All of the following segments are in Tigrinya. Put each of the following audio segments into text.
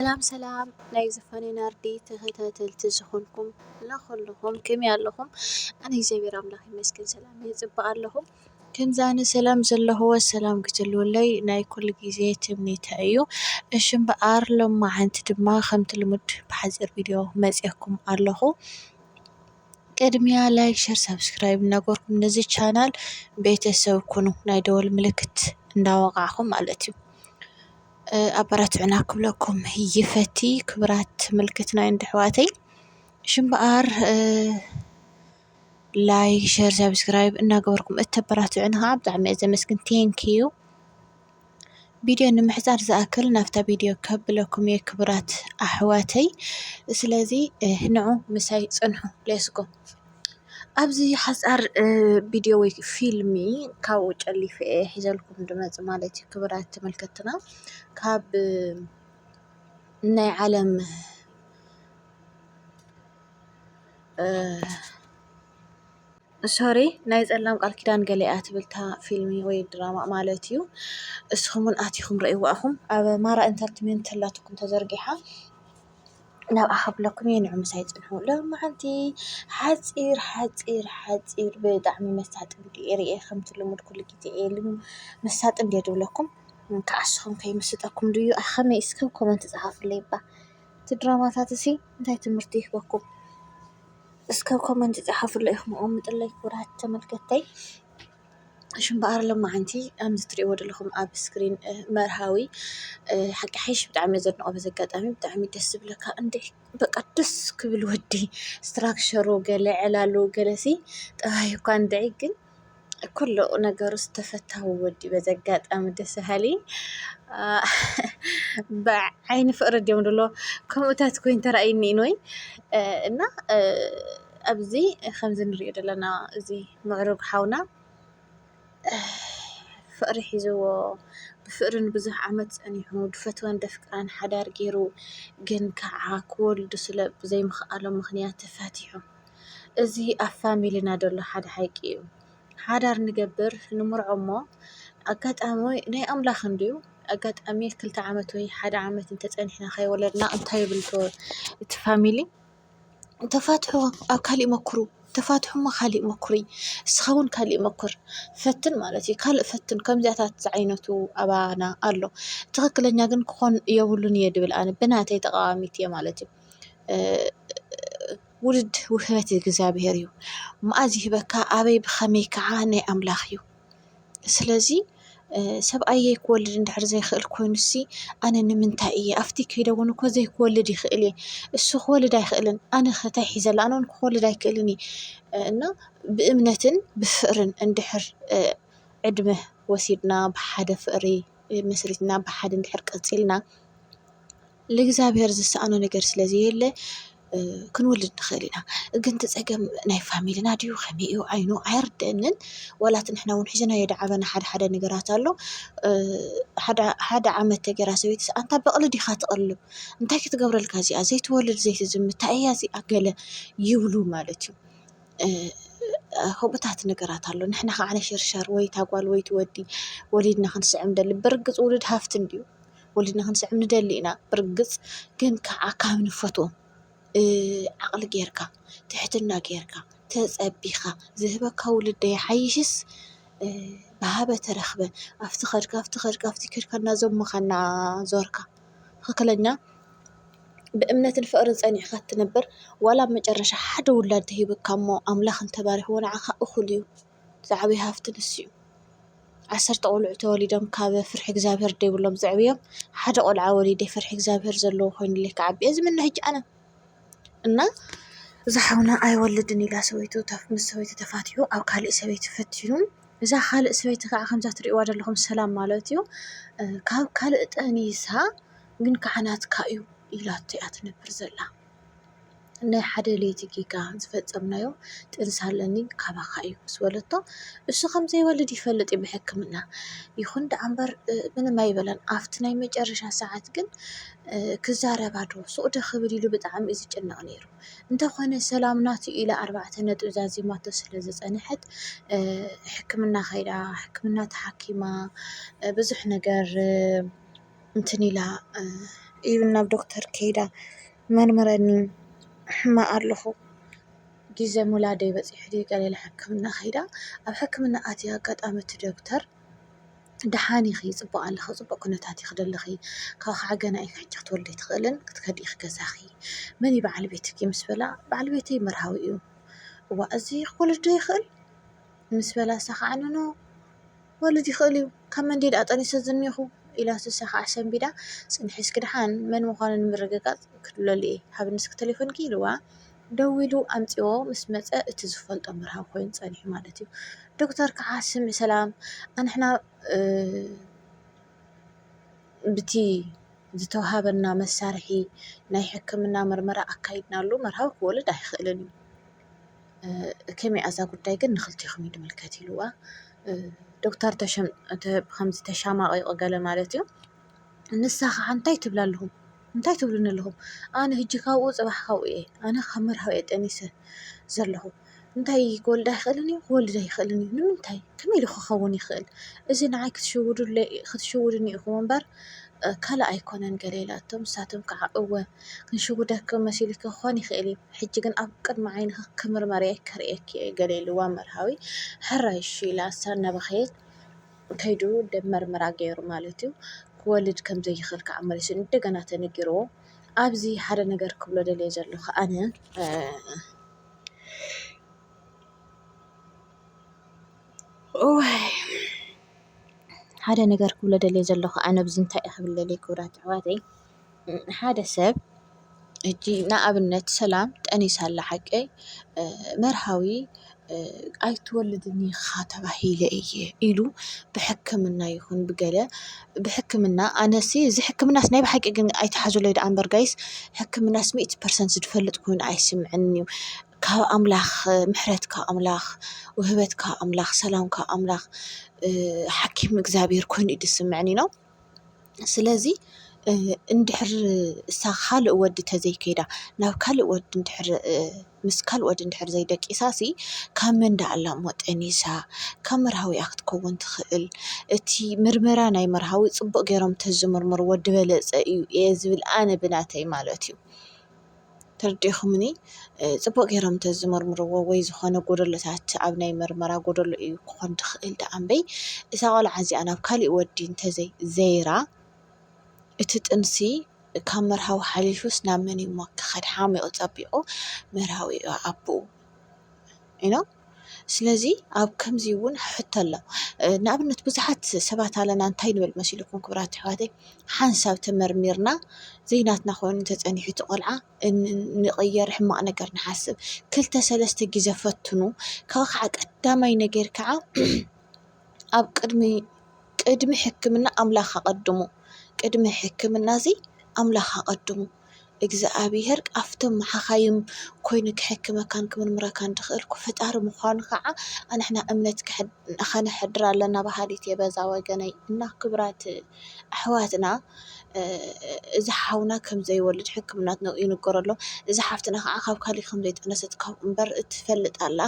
ሰላም ሰላም ናይ ዝፋነይ ናርዲ ተኸታተልቲ ዝኾንኩም ለኹልኹም ከመይ ኣለኹም ኣነ እግዚኣብሔር ኣምላኽ ይመስገን ሰላም እየ ፅብቅ ኣለኹ ከምዚ ኣነ ሰላም ዘለኹዎ ሰላም ክትህልወለይ ናይ ኩሉ ግዜ ትምኒተይ እዩ እሺ እምበኣር ሎማዓንቲ ድማ ከምቲ ልሙድ ብሓፂር ቪድዮ መፂኤኩም ኣለኹ ቅድሚያ ላይክ ሸር ሳብስክራይብ እናገበርኩም ነዚ ቻናል ቤተሰብ ኩኑ ናይ ደወል ምልክት እንዳወቃዕኹም ማለት እዩ ኣበራትዑና ክብለኩም ይፈቲ ክብራት ምልክትናይን ድሕዋተይ ሽምበኣር ላይ ሸር ሳብስክራይብ እናገበርኩም እተበራትዑን ከዓ ብጣዕሚ እየ ዘመስግን ቴንክዩ ቪድዮ ንምሕፃር ዝኣክል ናብታ ቪድዮ ከብለኩም እየ ክብራት ኣሕዋተይ ስለዚ ንዑ ምሳይ ፅንሑ ሌስጎ ኣብዚ ሓፃር ቪድዮ ወይ ፊልሚ ካብኡ ጨሊፈ እየ ሒዘልኩም ድመፅ ማለት እዩ ክብራት ተመልከትና ካብ ናይ ዓለም ሶሪ ናይ ፀላም ቃል ኪዳን ገሊኣ ትብልታ ፊልሚ ወይ ድራማ ማለት እዩ እስኹም እውን ኣቲኹም ረእይዋ ኢኹም ኣብ ማራ ኢንተርትመንት ላትኩም ተዘርጊሓ ናብኣ ኸፍለኩም እየ ንዑምሳይ ጽንሑ ሎምዓንቲ ሓጺር ሓጺር ሓጺር ብጣዕሚ መሳጥን ርእየ ኸምቲ ልሙድ ኩሉ ጊዜ ኢሉ መሳጥን ድየ ድብለኩም ክዓስኹም ከይምስጠኩም ድዩ ኣይ ኸመይ እስከ ኣብ ኮመንቲ ጸሓፉለይ እባ እቲ ድራማታት እዚ እንታይ ትምህርቲ ይህበኩም እስከ ኣብ ኮመንቲ ጸሓፉለይ ኢኹም ኣቐምጥለይ ክቡራት ተመልከተይ። እሺ እምበኣር ሎማዓንቲ ከም እትሪእዎ ዘለኹም ኣብ እስክሪን መርሃዊ ሓቂ ሓይሽ ብጣዕሚ እየ ዘድንቖ በዚ ኣጋጣሚ ብጣዕሚ ደስ ዝብለካ እንድዒ በቃ ደስ ክብል ወዲ ስትራክቸሩ ገለ ዕላሉ ገለሲ ጠባዩ እኳ እንድዒ ግን ኩሉ ነገሩስ ተፈታዊ ወዲ እዩ በዚ ኣጋጣሚ ደስ በሃሊ ብዓይኒ ፍቕሪ ድዮም ዝብልዎ ከምኡታት ኮይኑ ተራእዩኒ ኢንወይ እና ኣብዚ ከምዚ ንሪኦ ዘለና እዚ ምዕሩግ ሓውና ፍቕሪ ሒዝዎ ብፍቕሪ ንብዙሕ ዓመት ፀኒሑ ድፈትዋን ደፍቅራን ሓዳር ገይሩ ግን ከዓ ክወልዱ ስለ ብዘይምኽኣሎም ምኽንያት ተፋቲሑ። እዚ ኣብ ፋሚልና ዘሎ ሓደ ሓቂ እዩ። ሓዳር ንገብር ንምርዖ እሞ ኣጋጣሚ ናይ ኣምላኽ እንድዩ ኣጋጣሚ ክልተ ዓመት ወይ ሓደ ዓመት እንተፀኒሕና ከይወለድና እንታይ ይብል እቲ ፋሚሊ? ተፋትሑ ኣብ ካሊእ ሞክሩ ተፋትሑ እሞ ካሊእ ሞክሪ ንስኻ እውን ካሊእ ሞክር ፈትን ማለት እዩ። ካልእ ፈትን ከምዚኣታት ዝዓይነቱ ኣባና ኣሎ ትኽክለኛ ግን ክኾን የብሉን እየ ዝብል ኣነ ብናተይ ተቃዋሚት እየ ማለት እዩ። ውድድር ውህበት እግዚኣብሔር እዩ መኣዝ ይህበካ ኣበይ ብኸመይ ከዓ ናይ ኣምላኽ እዩ። ስለዚ ሰብኣየ ክወልድ እንድሕር ዘይክእል ኮይኑሲ ኣነ ንምንታይ እየ ኣብቲ ከይደ እውን እኮ ዘይክወልድ ይኽእል እየ እሱ ክወልድ ኣይኽእልን ኣነ ከ ታይ ሒዘ ኣሎ ኣነ እውን ክወልድ ኣይክእልን እየ እና ብእምነትን ብፍቅርን እንድሕር ዕድመ ወሲድና ብሓደ ፍቅሪ መስሪትና ብሓደ እንድሕር ቀፂልና ልእግዚኣብሔር ዝሰኣኖ ነገር ስለ ዘየለ ክንወልድ ንኽእል ኢና። ግን እቲ ጸገም ናይ ፋሚልና ድዩ ከመይ እዩ ዓይኑ ኣይርደአንን ዋላ እቲ ንሕና ውን ሒዝናዮ ዝዓበና ሓደ ሓደ ነገራት ኣሎ። ሓደ ዓመት ተጌራ ሰበይትስ ኣንታ በቕሊ ዲኻ ትቕልብ እንታይ ክትገብረልካ እዚኣ ዘይትወልድ ዘይትዝምት ታይ እያ እዚኣ ገለ ይብሉ ማለት እዩ። ከምኡታት ነገራት ኣሎ ንሕና ከዓ ነሸርሸር ወይ እታ ጓል ወይ እቲ ወዲ ወሊድና ክንስዕብ ንደሊ ብርግጽ ውሉድ ሃፍቲ እንድዩ። ወሊድና ክንስዕብ ንደሊ ኢና ብርግፅ ግን ከዓ ካብ ንፈትዎም ዓቕሊ ጌርካ ትሕትና ጌርካ ተፀቢኻ ዝህበካ ውልድ ዶ ይሓይሽስ ብሃበ ተረኽበ ኣብቲ ከድካ ኣብቲ ከድካ ኣብቲ ከድካ እናዘሞኻ እናዞርካ ትኽክለኛ ብእምነትን ፍቕርን ፀኒዕኻ እትነብር ዋላ ኣብ መጨረሻ ሓደ ውላድ ተሂቡካ እሞ ኣምላኽ እንተባሪኽዎ ንዓኻ እኹል እዩ። ዝዓበየ ሃፍቲ ንሱ እዩ። ዓሰርተ ቆልዑ ተወሊዶም ካብ ፍርሒ እግዚኣብሄር ዘይብሎም ዘዕብዮም ሓደ ቆልዓ ወሊደ ፍርሒ እግዚኣብሄር ዘለዎ ኮይኑለይ ክዓቢ እየ ዝምነ ሕጂ ኣነ። እና እዛ ሓውና ኣይወልድን ኢላ ሰበይቱ ምስ ሰበይቱ ተፋቲሑ ኣብ ካሊእ ሰበይቲ ፈቲኑ እዛ ካልእ ሰበይቲ ከዓ ከምዛ ትሪእዋ ዘለኹም ሰላም ማለት እዩ ካብ ካልእ ጠኒሳ ግን ከዓ ናትካ እዩ ኢላቶ እያ ትነብር ዘላ። ናይ ሓደ ለይቲ ጌጋ ዝፈጸምናዮ ጥንሲ ኣለኒ ካባኻ እዩ ምስ በለቶ እሱ ኸም ዘይወልድ ይፈልጥ እዩ ብሕክምና ይኹን ደኣ እምበር ምንም ኣይበለን ኣብቲ ናይ መጨረሻ ሰዓት ግን ክዛረባ ዶ ሱቕ ዶ ክብል ኢሉ ብጣዕሚ እዩ ዝጭነቕ ነይሩ እንተኾነ ሰላም ናቱ ኢላ ኣርባዕተ ነጥቢ ዛዚማቶ ስለ ዝጸንሐት ሕክምና ኸይዳ ሕክምና ተሓኪማ ብዙሕ ነገር እንትን ኢላ ኢቭን ናብ ዶክተር ከይዳ መርምረኒ ሕማቕ ኣለኹ ግዜ ምውላደይ በጺሑ ድዩ ገለ ኢላ ሕክምና ከይዳ ኣብ ሕክምና ኣትያ ኣጋጣሚ እቲ ዶክተር ደሓን ኢኺ ጽቡቕ ኣለኺ ኣብ ጽቡቕ ኩነታት ኢኺ ዘለኺ ካብኡ ከዓ ገና ኢኺ ሕጂ ክትወልዲ ኣይትኽእልን ክትከዲ ኢኺ ገዛኺ መን እዩ በዓል ቤትኪ ምስ በላ በዓል ቤተይ መርሃዊ እዩ እዋእ እዚ ክወልድ ዶ ይኽእል ምስ በላ ንሳ ከዓ ኖኖ ክወልድ ይኽእል'ዩ፣ ካብ መን ድየ ደኣ ጠኒሰ ዝኒኹ? ኢላ ስሰ ከኣ ኣሰንቢዳ፣ ጽንሒ እስኪ ደሓን መን ምዃኑ ንምርግጋጽ ክድውለሉ'የ፣ ሃብኒ እስኪ ተሌፎንኪ ኢልዋ ደዊሉ ኣምጺዎ ምስ መጸ እቲ ዝፈልጦ መርሃዊ ኮይኑ ጸኒሑ ማለት'ዩ። ዶክተር ከኣ ስምዕ ሰላም ኣንሕና ብቲ ዝተውሃበና መሳርሒ ናይ ሕክምና መርመራ ኣካይድናሉ መርሃዊ ክወልድ ኣይኽእልን እዩ። ከመይ እያ እዛ ጉዳይ ግን ንክልቴኹም እዩ ዝምልከት ኢልዋ ዶክተር ከምዚ ተሻማቂቁ ገለ ማለት እዩ ንሳ ከዓ እንታይ ትብላ ኣለኹም እንታይ ትብሉኒ ኣለኹም ኣነ ህጂ ካብኡ ፅባሕ ካብኡ እየ ኣነ ካብ መርሃዊ እየ ጠኒሰ ዘለኹ እንታይ ክወልድ ኣይክእልን እዩ ክወልድ ኣይክእልን እዩ ንምንታይ ከመይ ኢሉ ክኸውን ይኽእል እዚ ንዓይ ክትሽውዱለይ ክትሽውዱኒ ኢኹም እምበር ካልእ ኣይኮነን ገለ ኢላቶም ንሳቶም ከዓ እወ ክንሽውደኪ መሲሉኪ ክኾን ይኽእል እዩ፣ ሕጂ ግን ኣብ ቅድሚ ዓይንኺ ክምርመር'የ ከርእየኪ'የ ገለ ኢልዋ መርሃዊ ሕራይ'ሺ ኢላ እሳ እናበኸየት ከይዱ ደም መርመራ ገይሩ ማለት'ዩ ክወልድ ከም ዘይኽእል ከኣ መሊሱ እንደገና ተነጊርዎ ኣብዚ ሓደ ነገር ክብሎ ደልየ ዘለኹ ኣነ ሓደ ነገር ክብሎ ደልየ ዘለኹ ኣነ ኣብዚ እንታይ እየ ክብል ደልየ ክብራት ኣሕዋተይ ሓደ ሰብ እጂ ንኣብነት ሰላም ጠኒሳ ኣላ ሓቀይ መርሃዊ ኣይትወልድን ኢኻ ተባሂለ እየ ኢሉ ብሕክምና ይኹን ብገለ ብሕክምና ኣነሲ እዚ ሕክምናስ ናይ ብሓቂ ግን ኣይትሓዙለይ ደኣ እምበር ጋይስ ሕክምናስ ሚእቲ ፐርሰንት ዝፈልጥ ኮይኑ ኣይስምዕንን እዩ። ካብ ኣምላኽ ምሕረት ካብ ኣምላኽ ውህበት ካብ ኣምላኽ ሰላም ካብ ኣምላኽ ሓኪም እግዚኣብሔር ኮይኑ እዩ ዝስመዐኒ። ስለዚ እንድሕር እሳ ካልእ ወዲ ተዘይከይዳ ናብ ካልእ ወዲ እንድሕር ምስ ካልእ ወዲ እንድሕር ዘይደቂሳሲ ካብ መን ዳኣ ኣላ እሞ ጠኒሳ ካብ መርሃዊኣ ክትከውን ትኽእል እቲ ምርመራ ናይ መርሃዊ ፅቡቅ ገይሮም ተዝምርምርዎ ድበለፀ እዩ እየ ዝብል ኣነ ብናተይ ማለት እዩ። ተርዲእኹምኒ ጽቡቅ ጌሮም ተዝምርምርዎ ወይ ዝኾነ ጎደሎታት ኣብ ናይ ምርመራ ጎደሎ እዩ ክኾን ድኽእል ደኣ እምበይ እዛ ቆልዓ እዚኣ ናብ ካሊእ ወዲ እንተዘይ ዘይራ እቲ ጥንሲ ካብ መርሃዊ ሓሊፉስ ናብ መን እዩሞ ክኸድ ሓሚቑ ጸቢቑ መርሃዊ እዩ ኣቡኡ። ስለዚ ኣብ ከምዚ እውን ሕቶ ኣሎ ንኣብነት ብዙሓት ሰባት ኣለና እንታይ ንበል መሲልኩም ክብራት ኣሕዋተይ ሓንሳብ ተመርሚርና ዘይናትና ኮይኑ እንተፀኒሑ እቲ ቆልዓ ንቕየር ሕማቕ ነገር ንሓስብ ክልተ ሰለስተ ግዜ ፈትኑ ካብ ከዓ ቀዳማይ ነገር ከዓ ኣብ ቅድሚ ቅድሚ ሕክምና ኣምላኽ ኣቐድሙ ቅድሚ ሕክምና እዚ ኣምላኽ ኣቐድሙ እግዚኣብሄር ካብቶም መሓካይም ኮይኑ ክሕክመካን ክምርምረካን ድኽእልኩ ፈጣሪ ምዃኑ ኸዓ ኣንሕና እምነት ኸነሕድር ኣለና በሃሊት እየ በዛ ወገነይ እና ክብራት ኣሕዋትና እዚ ሓውና ከም ዘይወልድ ሕክምና ትነግሮ ይንገሮ ኣሎ እዚ ሓፍትና ኸዓ ካብ ካልእ ከም ዘይጠነሰት ካብ እምበር እትፈልጥ ኣላ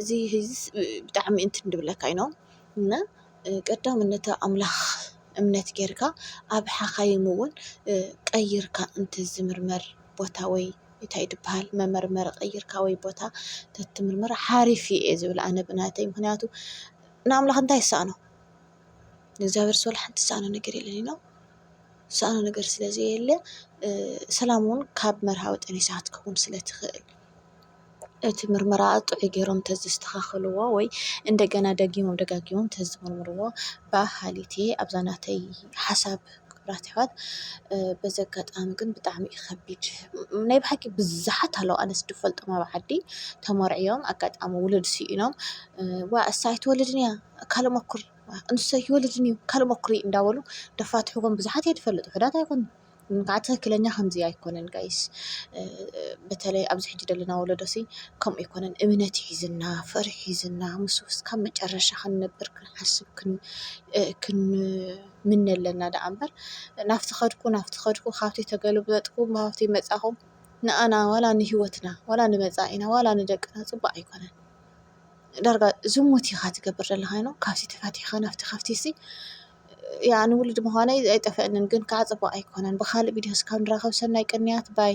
እዚ ህዝስ ብጣዕሚ እንትን ድብለካ እዩ እና ቀዳምነት ኣብ ኣምላኽ እምነት ጌርካ ኣብ ሓኻይም እውን ቀይርካ እንትዝምርመር ቦታ ወይ እንታይ ድበሃል መመርመሪ ቀይርካ ወይ ቦታ ተትምርምር ሓሪፍ እዩ እየ ዝብል ኣነ ብናተይ ምኽንያቱ ንኣምላኽ እንታይ ይሳኣኖ ንእግዚኣብሔር ዝኮነ ሓንቲ ዝሳኣኖ ነገር የለን እዩ ዝሳኣኖ ነገር ስለዘየለ ሰላም እውን ካብ መርሃዊ ጠኒሳ ክትከውን ስለትኽእል። እቲ ምርመራ ጥዑይ ጌሮም እንተዘስተኻኽልዎ ወይ እንደገና ደጊሞም ደጋጊሞም እንተዝምርምርዎ ባእ ሃሊቲ ኣብዛ ናተይ ሓሳብ ክብራት ኣሕዋት በዚ ኣጋጣሚ ግን ብጣዕሚ እዩ ከቢድ ናይ ብሓቂ ብዝሓት ኣለዉ ኣነ ዝፈልጦም ኣብ ዓዲ ተመርዕዮም ኣጋጣሚ ውሉድ ስኢኖም ዋእ ንሳ ኣይትወልድን እያ ካልእ ሞክር ንሱ ኣይወልድን እዩ ካልእ ሞክሪ እንዳበሉ ደፋትሕዎም ብዙሓት እየ ዝፈልጥ ዉሑዳት ኣይኮኑን። ንቃዕ ትክክለኛ ከምዙይ ኣይኮነን ጋይስ በተለይ ኣብዚ ሕጂ ደለና ወለዶ ሲ ከምኡ ኣይኮነን እምነት እዩ ሒዝና ፍቅሪ ሒዝና ምስ እስካብ መጨረሻ ክንነብር ክንሓስብ ክንምነ ኣለና ደኣ እምበር ናብቲ ከድኩ ናብቲ ከድኩ ካብቲ ተገልበጥኩ ናብቲ መጻኹ ንኣና ዋላ ንሂወትና ዋላ ንመጻኢና ዋላ ንደቅና ጽቡቅ ኣይኮነን ዳርጋ ዝሙት ኢካ ትገብር ዘለካ ዩ እሞ ካብዚ ተፈቲሕካ ናብቲ ካብቲ ሲ። ያኣኒ ውሉድ ምዃነይ ኣይጠፈአንን ግን ከኣ ጽቡቅ ኣይኮነን ብካልእ ቪድዮ እስካብ ንራከብ ሰናይ ቅንያት ባይ።